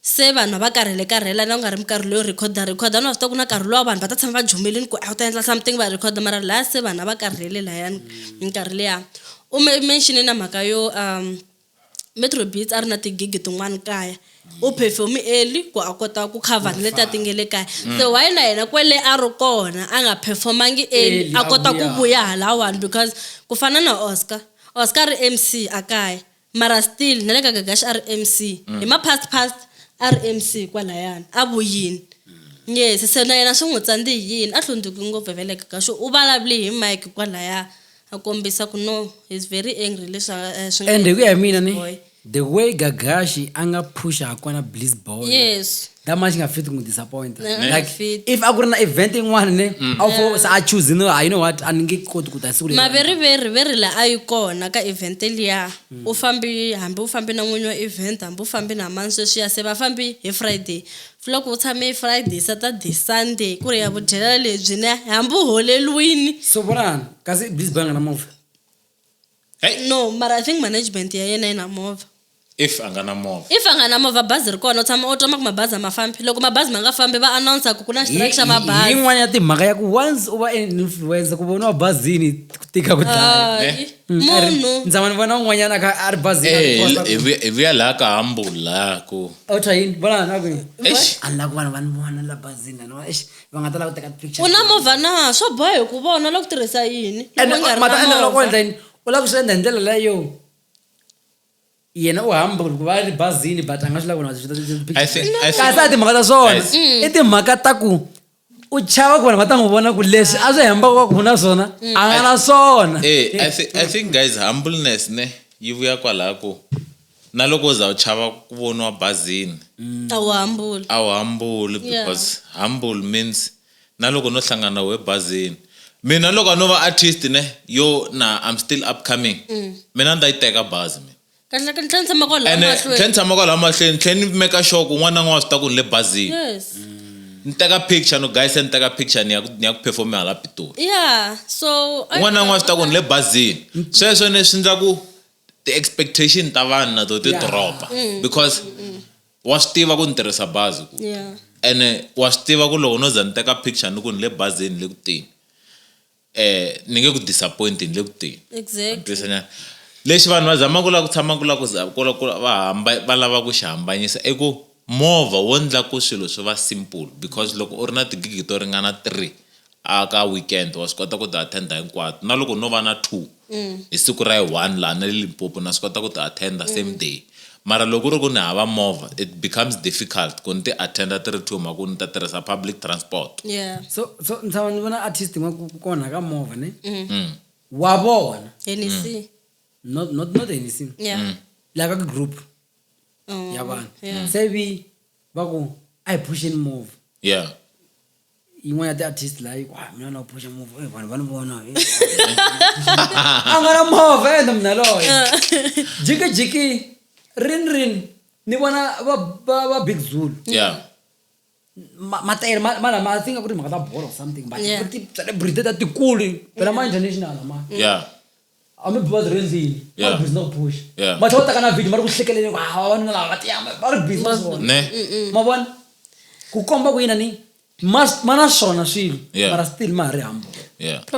Se vanhu a va karhele-karhela na ku nga ri minkarhi leyo rhekhoda-rhekhoda. Vanhu va swi tiva ku na nkarhi luwa vanhu va ta tshama va jomelini ku a wu ta endla something va rhekhoda mara lahaya se vanhu a va karhele lahayani minkarhi liya. U mention-e na mhaka yo Metro Beats a ri na ti-gig-i tin'wani kaya, u perform-i early ku a kota ku cover na letiya ti nge le kaya. Se why na yena kwele a ri kona a nga perform-angi early a kota ku vuya halawani because ku fana na Oscar, Oscar a ri M_C a kaya mara still na le ka gagax rmc mm. hi ma-past past rmc kwalayani a vuyini yes se na yena swi n'wi tsandzi hi yini a hlundzuki ngopfu hi veleka ka xo u vulavule hi mike kwalaya a kombisa ku no he's very angry leswaku eh, and hi ku ya hi mina ni the way gagashi a nga phusha ha kona bliss boy yes that much nga fit n'wi disappointa like if a ku ri na event yin'wana ne mm. a wu fo se a choose no you know what a ni nge koti ku ta siku maveriveri veri la a yi kona ka event liya mm. u fambi hambi u fambi na n'winyi wa event hambi u fambi na mani sweswi ya se va fambi hi friday loko u tshame hi friday saturday sunday ku ri ya vudyela lebyi ne hambi u holeliwini so vonani kasi blizbanga na movha no mara i think management ya yena yi na movha if a nga na movha if a nga na movha bazi ri kona u tshama u tama ku mabazi a ma fambi loko mabazi ma nga fambi va announsa ku ku na strike xa mabazi yin'wana ya timhaka ya ku once u va an influencer ku voniwa bazini ku tika ku dlaya Hayi, Eh? Mm, a ri- munhu ndza mani vona un'wanyana a kha a ri bazini a Eh, khosa ku- hi vuya- hi vuya laha ka hambula ku a wu twa yini vona na ku Eish. a ni la ku vanhu va ni vona la bazini a ni vona eish va nga ta lava ku teka picture u na movha na swo boha hi ku vona loko tirhisa yini loko endla yini u lava ku swi endla hi ndlela leyo yena u hamba ku va ri bazini but a nga swi lavi kasi a timhaka ta swona mm. i timhaka ta ku u chava ku vanhu va ta n'wi vona ku leswi a swi hembaka va ku na swona mm. a nga na swona eh, i think guys humbleness ne yi vuya kwalaha ku na loko u za u chava ku voniwa bazini a wu hambuli a wu hambuli because yeah. humble means na loko no hlangana na we bazini mina loko a no va artist ne yo na i'm still upcoming mm. mina ni ta yi teka bazi mina kahle kahle ni tshama kwala ene tlhe ni tshama kwala mahlweni tlhe ni meka sure ku n'wana n'wana swi ta ku ni le bazini yes mm. ni teka picture no guys ni teka picture ni ya ni ya ku perform hala pitoli yeah so n'wana n'wana swi ta ku ni le bazini sweswo ni swi ndla ku ti expectation ta vanhu na to ti dropa mm. because mm, mm. wa swi tiva ku ni tirhisa bazi ku ene wa swi tiva ku loko no za ni teka picture ni ku ni le bazini le ku teni eh ni nge ku disappoint ni le ku teni exactly lexi vanhu va zamaka ku lava ku tshama ku lava ku va hamba va lava ku xi hambanyisa i ku movha wo ndla ku swilo swi va simple because loko u ri na tigigi to ringana three a ka weekend wa swi kota ku ti attend-a hinkwato na loko no va na two hi siku ra yi one laha na le Limpopo na swi kota ku ti attend-a same day mara loko ku ri ku ni hava movha it becomes difficult ku ni ti attend-a ti ri two hi mhaka ku ni ta tirhisa public transport. Yeah. So so ni tshama ni vona artist yin'wana ku ku onha ka movha ne wa vona Hennessy. not not not anything Yeah. la ka group Oh, ya vanhu yeah. se vi va ku a hi phuxeni movha yeah yin'wana ya ti-artist laha yi ku ah, mina na phusha move eh, vanhu va ni vona eh, a nga na movha endla mina loyo jikijiki rin rin ni vona va va va big zulu yeah ma- matayere ma- ma lama i think a ku ri mhaka ta bolo or something but Yeah. ku ri ti-celebrity ta tikulu phela ma-international ma yeah hambi bi va byi rindzile va ri busy na ku phuxa matlhe va taka na video va ri ku hlekelele ku hawa vanuna lava va tiyama va ri busy na swona ma vona ku komba ku yina ni ma ma na swona swilo mara still ma ha ri hambo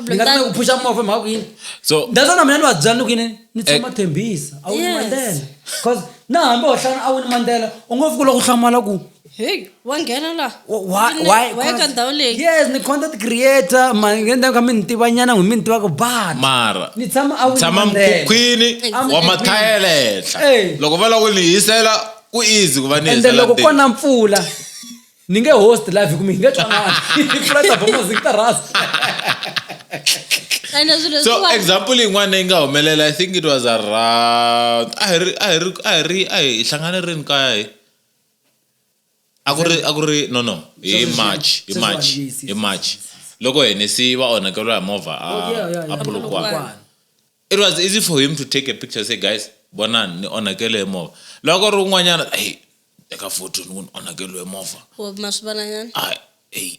ni nga ku phuxa movha mhaka ku yini so that's why na mina ni va byela ni ku yini ni eh. tshama thembisa a wu ni mandela cause na hambi wo hlana a wu ni mandela u ngo fika u lava ku hlamala ku heyi wa nghena laha Why- why- Ni- why- wa ya ka ndhawu leyi yes ni content creator maendla ka mi ni tivanyana n'wi mi ni tivaka bana mara ni tshama a tshama Wynlandela. mukhukhwini I'm wa in mathayela henhla Hey. loko va lava ku ni hisela ku easy ku va ni ende hisela loko ntirho. ko na mpfula ni nge host live hikume hi nge twanani mpfula ta bomazi ta rasta ende swilo so leswiwani- example yin'wana yi nga humelela i think it was around a hi ri a hi ri a hi ri a hi hlangane rini kaya hi a ku ri a ku ri no no hi Sweswi swi- march hi sweswi march vanhu, yes, hi yes, march yes, yes. loko henesi va onhakeriwa hi movha a Oh, yeah, yeah, a yeah. polokwane Polokwane. it was easy for him to take a picture say guys vonani ni onhakele hi movha loko ri un'wanyana hey teka photo ni ku ni onhakeliwe hi movha Or maswivalanyana. a hey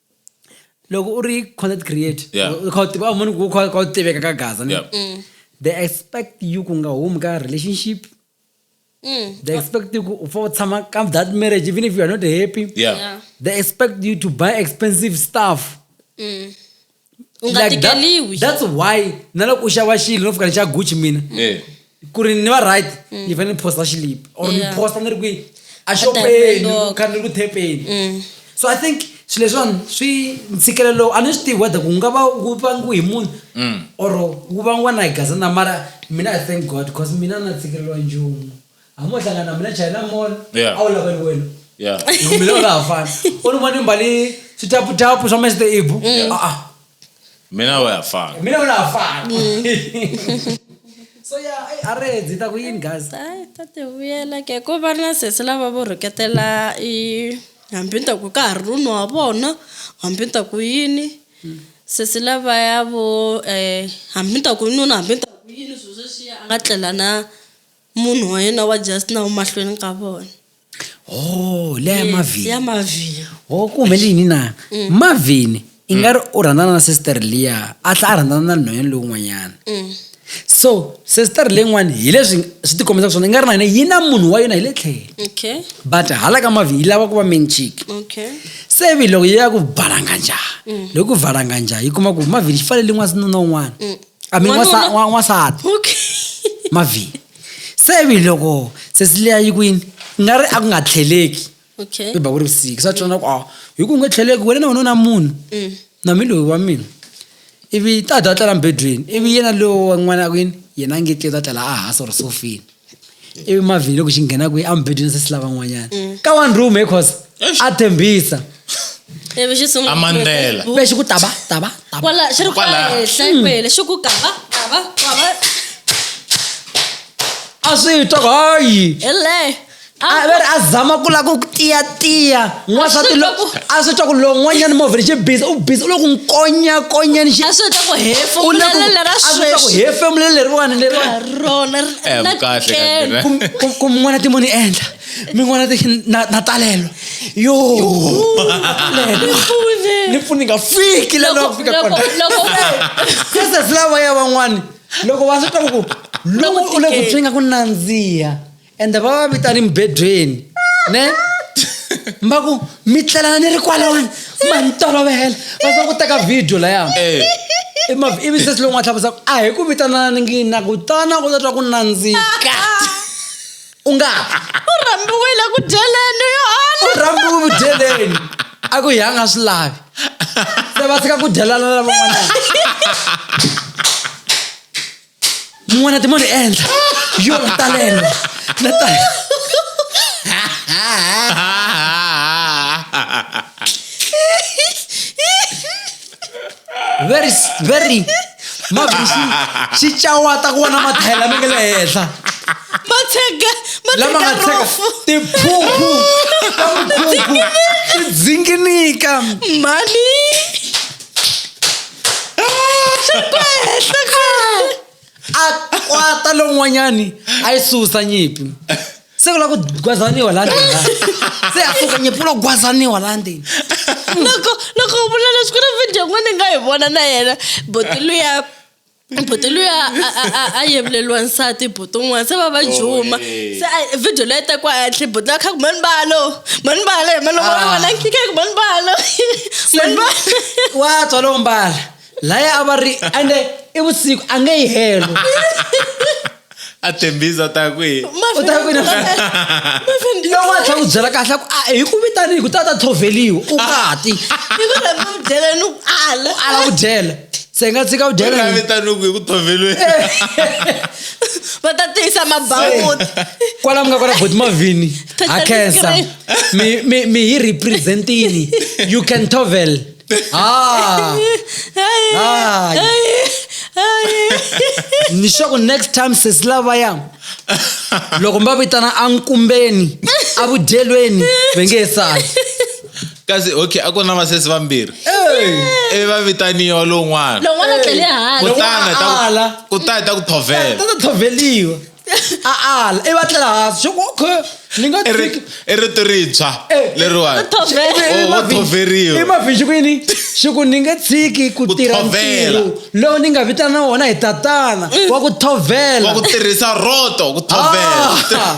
loko u ri content creator Yeah. u kha u tiva- u munhu ku kha u kha u tiveka ka gaza ne? Yeah. they expect you ku nga humi ka relationship they expect you ku u fa u tshama ka that marriage even if you are not happy Yeah. Yeah. they expect you to buy expensive stuff u nga Like that- tikeliwi that's why na loko u xava xilo no fika ni xa gucci mina Yeah. ku ri ni va right mm. ni fanele ni posta xilipi or ni posta ni ri kwihi axopeni kha ni ri ku thepeni mm. so i think swilo leswiwani swi ntshikelelo a ni swi tivi whether ku nga va wu vangiwe hi munhu mm. or wu vangiwa na hi gazana mara mina i thank god because mina na tshikelelo njumu hamo hlangana na mina china mall a wu laveli wena mina u nga ha fani u ni vona mbali switaputapu swa mester ibu a Mme nawe uyafana. Mina unafana. so ya ayi arezi ta ku yini guys hayi ta ti vuyela ke ko va na sesi lava vo rhuketela i hambi ni ta ku ka ha ri runhu wa vona hambi ni ta ku yini sesi lavaya vo um hambi ni ta ku nuna hambi ni ta ku yini swilo sweswiya a nga tlela na munhu wa yena wa just na umahlweni ka vona oh leya ya mavhini ya mavhini oh ku humelele yini na mm. mavhini i nga ri u rhandzana na sister liya a tlha a rhandzana na nhwanyana lowun'wanyana mm. so sister leyin'wani hi leswi swi tikombisa ku swona i nga ri na yena yi na munhu wa yona hi le tlhele but hala ka mavhini yi lava ku va menchiki se vi loko yi ya ku balanganja mm. loko ku valanganja yi kuma ku mavhini xi fanele yin'wana sinuna un'wana I mean, Wanuna- wasa- wa- wansati okay mavi se vi loko sesileya yi kwini nga ri a ku nga tlheleki okay i ba ku ri vusiku sa tsona ku a hi ku nga tlheleki wena na wanuna munhu Mm. na mi loyi wa mina ivi ta dya tlela mbedweni ivi yena lowo wa n'wana kwini yena a nge tli ta tlela a hasa or sofini ivi mavhini loko xi nghena kwihi amubedweni se si lava n'wanyana mm. ka one room hi cause a tshembisa ivi xi sungula amandlela kumbe xi ku taba taba kwala xi ri kwala henhla mm. kwele xi ku kava kava kava a swi twa hayi hele a ve ri a zama ku lava ku tiyatiya n'wansati lo a swi twa ku lowu n'wanyana movha lexi bizi u bizi u lo ku nkonya konya ni xi a swi twa ku hefemulela lera sweswi hefemule leriwani leriwanirona ku n'wana timo ni endla mi n'wana ti na talelo yo ni pfuni nga fiki la loko fika kona kese flawa ya van'wani loko va swi twa ku ku lowu u le ku twi nga ku nandziha ende va va vita ni mibedweni ne mba ku mi tlelana ni ri kwalawani ma ni tolovela va za ku teka video laya Eh, Emav- ivi sesi lowu nga tlhavusa ku a hi ku vitanana ni ngini na ku tana u ta twa ku nandzika u nga u rhambiwile ku dyeleni yo u ala rhambi ku vudyeleni a ku hi a nga swi lavi se va tshika ku dyelana na van'wanyana n'wana timoni endla yo talelo na talelo very very mavisi xi cawata ku vona mathaya lama nge le henhla lama nga tsheka tiphuphu ta mukhukhu ti dzinginika mhani a kwata lowun'wanyani a yi susa nyimpi se ku la ku gwazaniwa la ndzeni se a suka nyimpi ku la ku gwazaniwa la ndzeni loko loko u vula leswi ku ri video n'we ni nga yi vona na yena boti luya buti luya a yevuleliwa nsati buti un'wana se va va juma oh, se video leyi tekiwa henhle buti la kha ku mani balo mani balo hi maloma wa wena nkike ku mani balo mani balo wa tswa lowo mbala laya a va ri ande i vusiku a nge yi helo a tembisa u ta kwihi u ta kwihi loko a tlhela ku byela kahle ku a hi ku vitanihi ku ta ta thoveliwa u ngati i ku rhamba ku dyela ni ku ala ala ku dyela se nga tshika ku dyela ni vitanihi ku hi ku thoveliwa va ta tiyisa mabawuti kwala mi nga kwala boti mavhini ha khensa mi mi mi hi representini you can tovel Ah. Ah. ni swa ku next time sesi lavaya loko mi va vitana ankumbeni avudyelweni ve nge sali kasi okay a ku na vasesi vambirhi ivi va vitaniwa lowun'wana lon'wana tlele hansi kutani ta ku- kutani ta ku thovela ta ta tlhoveliwa a ala i va tlela hansi swi ku okay ni nga I ri- i rito rintshwa Eh, leriwani Thovela. Oh, vo thoveriwa. imavhixi kwini xi ku ni nge tshiki ku Ku tirha thovela. ntirho lowu ni nga vitana wona hi tatana wa ku thovela wa ku tirhisa roto ku thovela Ah.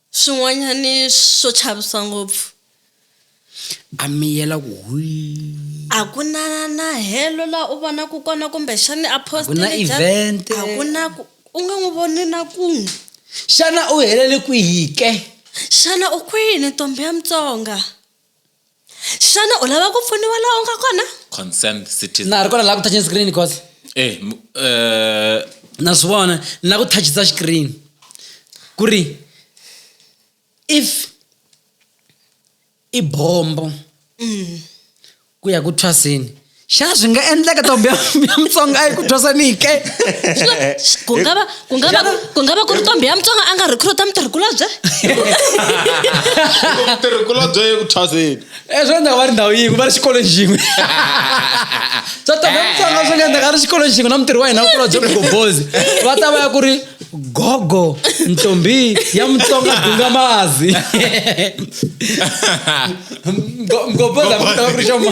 Swin'wanyani swo chavisa ngopfu. A miyela ku hwii. A ku na na helo la u vonaku kona kumbe xani apostle Jack. A ku na event. A ku na ku u nga n'wi voni na kun'we. Xana u helele kwihi ke? Xana u kwini ntombhi ya Mutsonga? xana u lava ku pfuniwa laha u nga kona concerned citizen na ha ri kona laha ku touching screen cos eh m- eh na swi vona ni lava ku touchisa screen ku ri if i bombo ku ya ku thwaseni xana swi nga endleka ntombi ya ya mutsonga a yi ku twasanike ku nga va ku nga va ku nga va ku ri ntombi ya mutsonga a nga recruta mutirhikulobye mutirhikulobye ku thwaseni Eh, swi endleka va ri ndhawu yin'we va ri xikolweni xin'we swa ntombi ya mutsonga swi nga endleka a ri xikolweni xin'we na mutirhi wa hina kulobye mugombozi va ta va ya ku ri gogo ntombi ya mutsonga dunga mazi Mgo- mgombozi a ku ta va ku ri xoma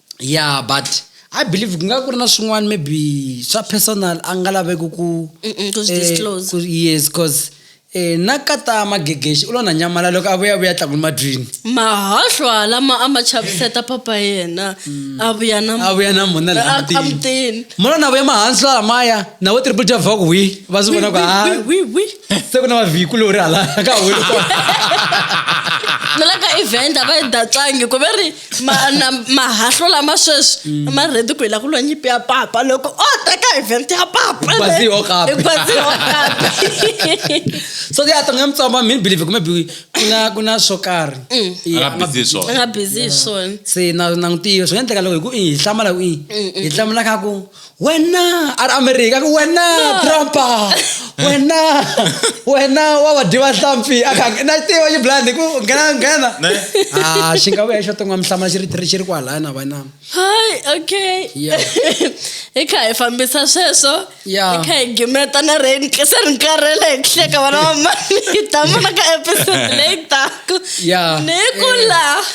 ya but i believe ku nga ku ri na swin'wana maybe swa personal a nga laveki ku Mm-mm, ku swi eh, disclose. ku- yes cause eh, na kata magegexi u lo na nyamala loko a vuya vuya tlakuni madrini mahahlwa lama a ma chaviseta papa yena a vuya na a vuya na mona la a- mutini. amutini mona na vuya mahansi la lamaya na vo triple j vaka wi va swi vona ku ha se ku na mavhiku lori hala ka hulu kona nalaka event a va yi datlangi ku ve ri mahahlo lama sweswi mm. ma rhedi ku hi la ku lwa nyimpi ya papa loko o teka event ya papaso ya tonga mutsoma mi believe kumbe kuna kuna swo karhi mm. nga busy swona se na na n'wi tiyo swi nga endleka loko hi ku i hi hlamala ku i hi hlamula ka ku wena ari america ku wena trumpa wena wena wa va dyiva hlampfi a kha na tiva yi blind ku nghena nghena Ne? a xi nga vuya xo ton'wa mihlama xi ri tiri xi ri kwalaya na vana hi okay Yeah. hi kha hi fambisa sweswo Yeah. hi kha hi gimeta na rain se ri nkarhele hi hleka vana va mani hi ta vona ka episode leyi taka Yeah. ni ku la